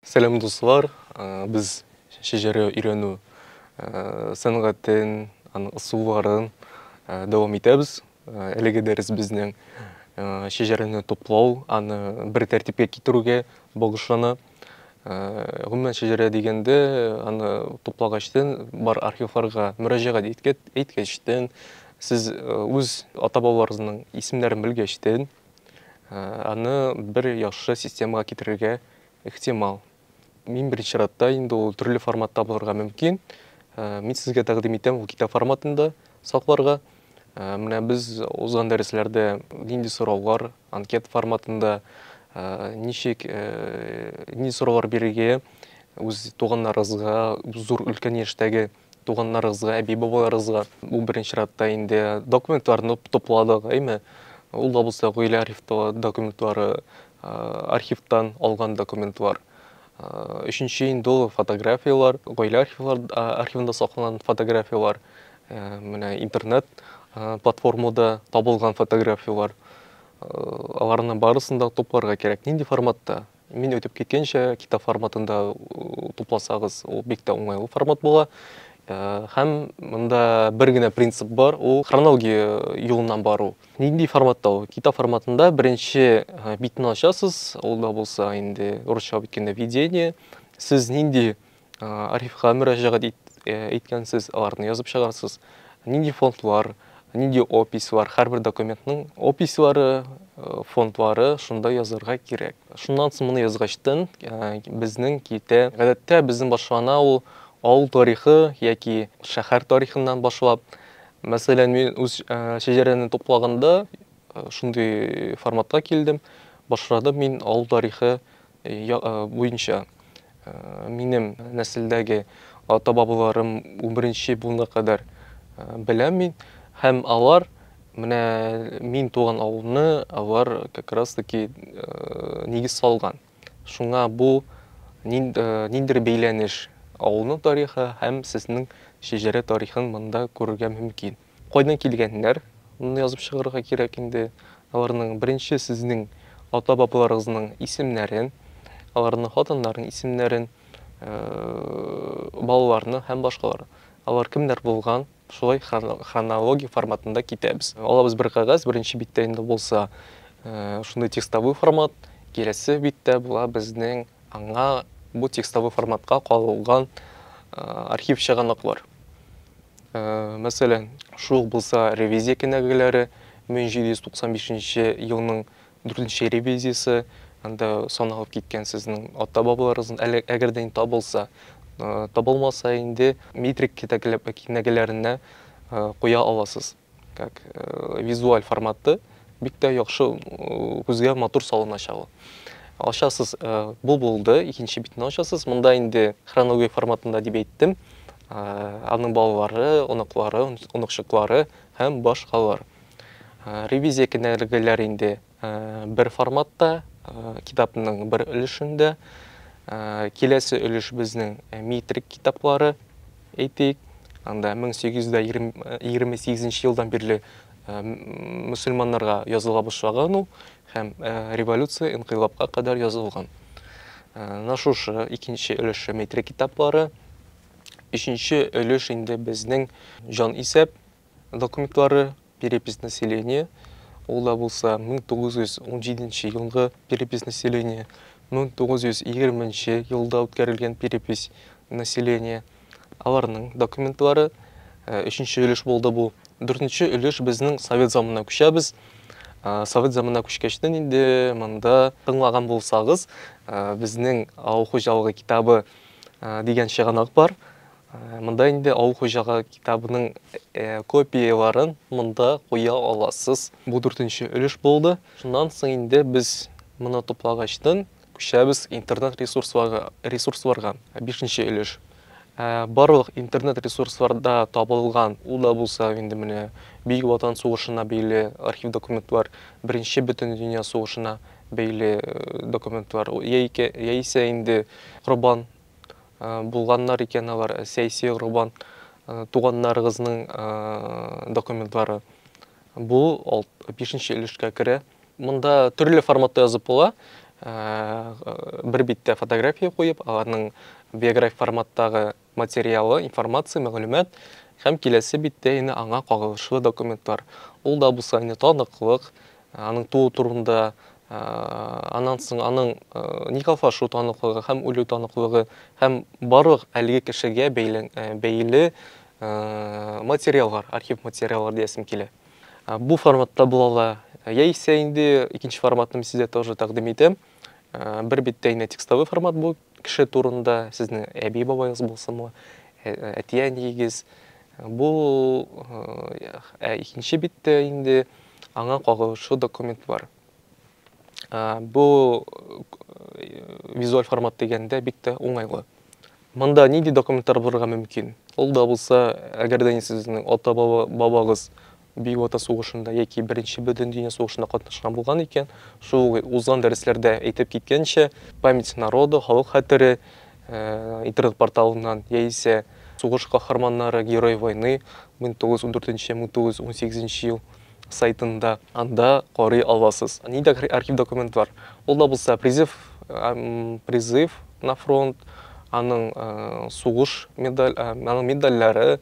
Сәлам дуслар, без шәҗәрә өйрәнү сәнгатен, аның ысулларын дәвам итәбез. Әлеге дәрес безнең шәҗәрәне туплау, аны бер тәртипкә китерүгә багышлана. Гомумән шәҗәрә дигәндә, аны туплагачтын бар архивларга мөрәҗәгать иткәчтен, сез үз ата-бабаларыгызның исемнәрен белгәчтен, Аны бер яхшы системага китерергә ихтимал. Мин беренче чиратта инде ул төрле форматта булырга мөмкин. Мин сезгә тәкъдим итәм ул китап форматында сакларга. Менә без узган дәресләрдә нинди сораулар анкет форматында ничек ни сораулар бирергә үз туганнарыгызга, зур өлкән яшьтәге Туганнарыгызга, әби-бабаларыгызга, бу беренче чиратта инде документларны тупладык, әйме? Ул да булса гаилә архивтагы документлары, архивтан алган документлар. Өченче инде ул фотографияләр, гаилә архивлар архивында сакланган фотографияләр, менә интернет платформада табылган фотографияләр. Аларның барысын да тупларга кирәк. Нинди форматта? Мин әйтеп киткәнчә, китап форматында тупласагыз, ул бик тә уңайлы формат була. Һәм монда бер генә принцип бар, ул хронология юлыннан бару. Нинди форматта ул? Китап форматында беренче битне ачасыз, ул да булса инде русча бит кенә введение. Сез нинди Архивка мөрәҗәгать иткәнсез, аларны язып чыгарсыз. Нинди фондлар, нинди опислар, һәрбер документның опислары, фондлары шунда язырга кирәк. Шуннан соң моны язгачтын, безнең китә. Гадәттә безнең башлана ул авыл тарихы яки шәһәр тарихыннан башлап. Мәсәлән, мин үз шәҗәрәне туплаганда шундый форматка килдем. Башладым мин авыл тарихы буенча минем нәселдәге ата-бабаларым унберенче буынга кадәр беләм мин. Һәм алар менә мин туган авылны алар как раз таки нигез салган. Шуңа бу ниндидер бәйләнеш авылның тарихы һәм сезнең шәҗәрә тарихын монда күрергә мөмкин. Кайдан килгәннәр? Моны язып чыгарырга кирәк инде. Аларның беренче сезнең ата-бабаларыгызның исемнәрен, аларның хатыннарының исемнәрен, балаларны һәм башкалар. Алар кемнәр булган? Шулай хронология форматында китәбез. Алабыз бер кәгазь, беренче биттә инде булса, шундый текстовой формат, киләсе биттә була безнең Аңа бу текстовый форматка кагылган архив чыганаклар, мәсәлән, шул ук булса ревизия кенәгәләре, 1795 елның 4 ревизиясе, анда саналып киткән сезнең ата-бабаларыгызның, әле әгәр дә табылса, табылмаса инде метрик кенәгәләренә куя аласыз. Как э, визуаль форматты бик тә яхшы э, күзгә матур салыначак ул. Ачасыз, э, бу булды, икенче битне ачасыз. Монда инде хронология форматында дип әйттем. Аның балалары, оныклары, оныкчыклары һәм башкалар. Ревизия кенәгәләре инде бер форматта, китапның бер өлешендә. Киләсе өлеш безнең метрик китаплары, әйтик. Анда 1828 елдан бирле мөселманнарга языла башлаган ул һәм революция, инкыйлабка кадәр язылган. Менә шушы икенче өлеше метрик китаплары. Өченче өлеш инде безнең җан исәп, Документлары, перепись населения, ул да булса 1917 нче елгы перепись населения, 1920 нче елда үткәрелгән перепись населения, аларның документлары, э, өченче өлеш булды бу. Дүртенче өлеш безнең совет заманына күчәбез. Э, Совет заманына күчкәчтен инде монда тыңлаган булсагыз, э, безнең авыл хуҗалыгы китабы э, дигән чыганак бар. Монда инде Авыл хуҗалыгы китабының копияләрен монда куя аласыз. Бу дүртенче өлеш булды. Шуннан соң инде без моны туплагачтын күчәбез интернет ресурсларга, ресурсларга, бишенче өлеш. Барлык интернет ресурсларда табылган, ул да булса инде менә Бөек Ватан сугышына бәйле архив документлар, Беренче Бөтендөнья сугышына бәйле документлар, яисә инде Корбан Булганнар икән алар, Сәйсио Рубан туганнарыгызның документлары. Бу бишенче өлешкә керә. Монда төрле форматта язып була. Бер биттә фотография куеп, аларның биографик форматтагы материалы, информация, мәгълүмат һәм киләсе биттә инде аңа кагылышлы документлар. Ул да булса инде таныклык, Аның туу турында аннан соң аның никахлашу таныклыгы һәм үлү таныклыгы һәм барлык әлеге кешегә бәйле материаллар, архив материаллар диясем килә. Бу форматта була ала. Яисә инде икенче форматны мин сезгә тоже тәкъдим итәм. Бер биттә инде текстовый формат бу кеше турында, сезнең әби-бабагыз булсынмы, әти-әниегез. Бу икенче биттә инде Аңа кагылышлы документлар. Бу визуаль формат дигәндә бик тә уңайлы. Монда нинди документлар булырга мөмкин? Ул да булса, әгәр дә сезнең ата-бабагыз Бөек Ватан сугышында яки Беренче бөтен дөнья сугышында катнашкан булган икән, шул узган дәресләрдә әйтеп киткәнчә, память народа, халык хәтере, интернет-порталыннан яисә Сугыш каһарманнары, Герои войны 1914-1918 ел сайтында анда карый аласыз. Нинди архив документлар? Ул да булса призыв, призыв на фронт, аның сугыш медаль, аның медальләре,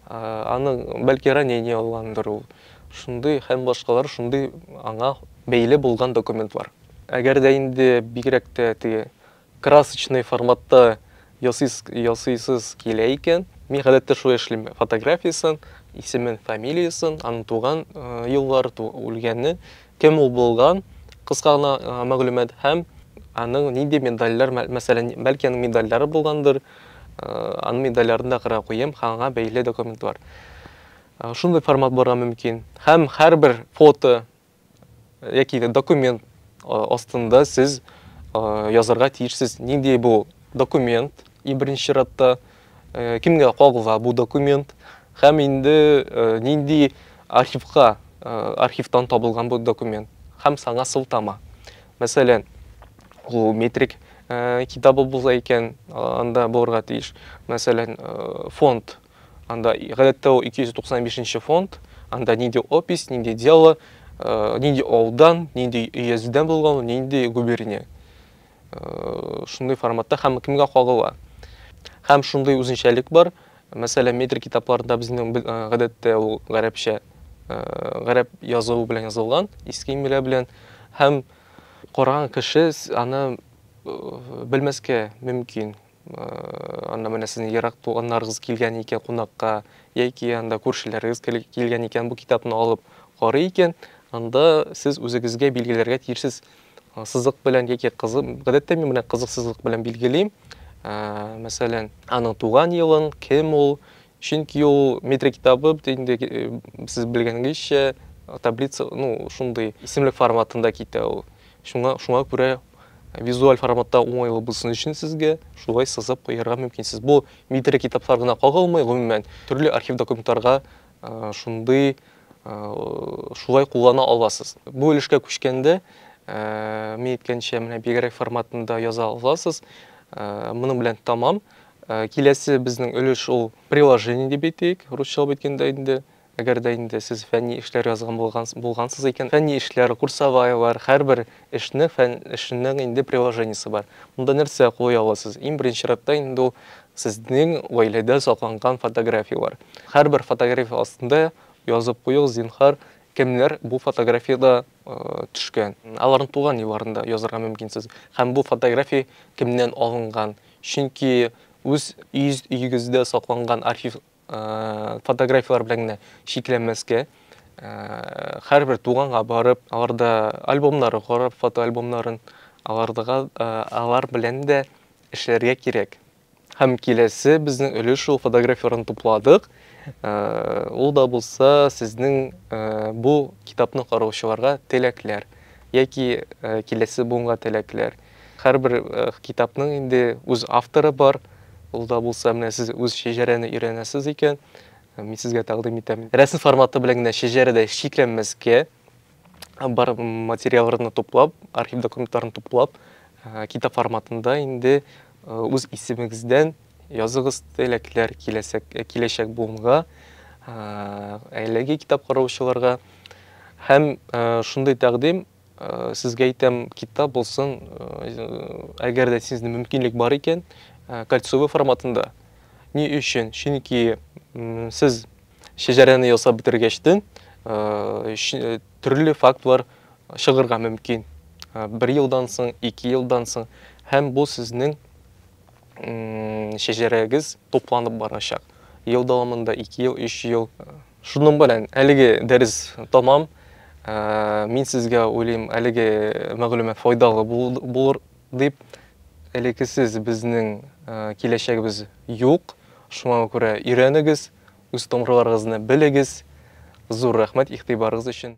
аның бәлки ранение алгандыр ул. Шундый һәм башкалар шундый аңа бәйле булган документлар. Әгәр дә инде бигрәк тә теге Красочный форматта ясыйсыз килә икән, мин гадәттә шулай эшлим, фотографиясен, исемен, фамилиясен, аның туган еллары, үлгәне, кем ул булган, кыска гына мәгълүмат һәм аның нинди медальләр, мәсәлән, бәлки аның медальләре булгандыр, аның медальләрен дә кыра куем, ханга бәйле документлар. Шундый формат барга мөмкин. Һәм һәрбер фото яки документ астында сез язарга тиешсез нинди бу документ и беренче чиратта кемгә кагыла бу документ һәм инде нинди архивка архивтан табылган бу документ һәм саңа сылтама мәсәлән ул метрик китабы булса икән анда булырга тиеш мәсәлән фонд Анда, гадәттә, ул 295 нче фонд, анда нинди опись, нинди дело, э, нинди ауылдан, нинди өязедән булган, нинди губерния. Э, шундый форматта һәм кемгә кагыла. Һәм шундый үзенчәлек бар, мәсәлән, метр китапларында безнең э, гадәттә ул гарәпчә, гарәп язуы белән язылган, иске имля белән, һәм караган кеше аны белмәскә мөмкин. Анда менә сезнең ерак туганнарыгыз килгән икән кунакка, яки анда күршеләрегез килгән икән, бу китапны алып карый икән, анда сез үзегезгә билгеләргә тиешсез сызык белән яки кызы, гадәттә мин менә кызыксызлык белән билгелим. Мәсәлән, аның туган елын, кем ул, Чөнки ул метрик китабы бит инде сез белгәнгезчә таблица, ну, шундый исемлек форматында китә ул. Шуңа, шуңа күрә визуаль форматта уңайлы булсын өчен сезгә шулай сызып куярга мөмкин. Сез бу метрик китаплар гына кагылмый, гомумән, төрле архив документларга шундый шулай куллана аласыз. Бу өлешкә күчкәндә, мин әйткәнчә, менә бигрәк форматында яза аласыз. Моның белән тәмам. Э, киләсе безнең өлеш ул приложение дип әйтик, русчалап әйткәндә инде. Әгәр дә инде сез фәнни эшләр язган булган, булгансыз икән, фәнни эшләр, курсоваялар, һәрбер эшне фән эшенең инде приложениесе бар. Монда нәрсә кулый аласыз? Иң беренче чиратта инде ул сезнең гаиләдә сакланган фотографиялар. Һәрбер фотография астында язып куегыз, зинһар, кемнәр бу фотографиядә төшкән. Аларны туган елларында язарга мөмкинсез. Һәм бу фотография кемнән алынган? Чөнки үз өегездә сакланган архив фотографияләр белән генә чикләнмәскә, һәрбер туганга барып, аларда альбомнары карап, фотоальбомнарын, алар белән дә эшләргә кирәк. Һәм киләсе безнең өлеш шул фотографияләрне тупладык. Ул да булса сезнең бу китапны караучыларга теләкләр яки киләсе буынга теләкләр. Һәрбер китапның инде үз авторы бар. Ул да булса менә сез үз шәҗәрәне өйрәнәсез икән, мин сезгә тәкъдим итәм. Рәсем форматы белән генә шәҗәрәдә чикләнмәскә, бар материалларны туплап, архив документларын туплап, э, китап форматында инде э, үз исемегездән языгыз теләкләр киләсәк, э, киләчәк буынга, әлеге китап караучыларга. Һәм шундый тәкъдим сезгә әйтәм, китап булсын, әгәр дә сезнең мөмкинлек бар икән, кольцовый форматында. Ни өчен? Чөнки сез Шәҗәрәне ясап бетергәчтен, төрле фактлар чыгырга мөмкин. Бер елдан соң, ике елдан соң. Һәм бу сезнең шәҗәрәгез тупланып барачак. Ел дәвамында 2 ел, 3 ел. Шуның белән әлеге дәрес тамам. Мин сезгә уйлыйм, әлеге мәгълүмат файдалы булыр дип. Элеккесез безнең киләчәгебез юк. Шуңа күрә өйрәнегез. Үз томрыларыгызны белегез! Зур рәхмәт игътибарыгыз өчен!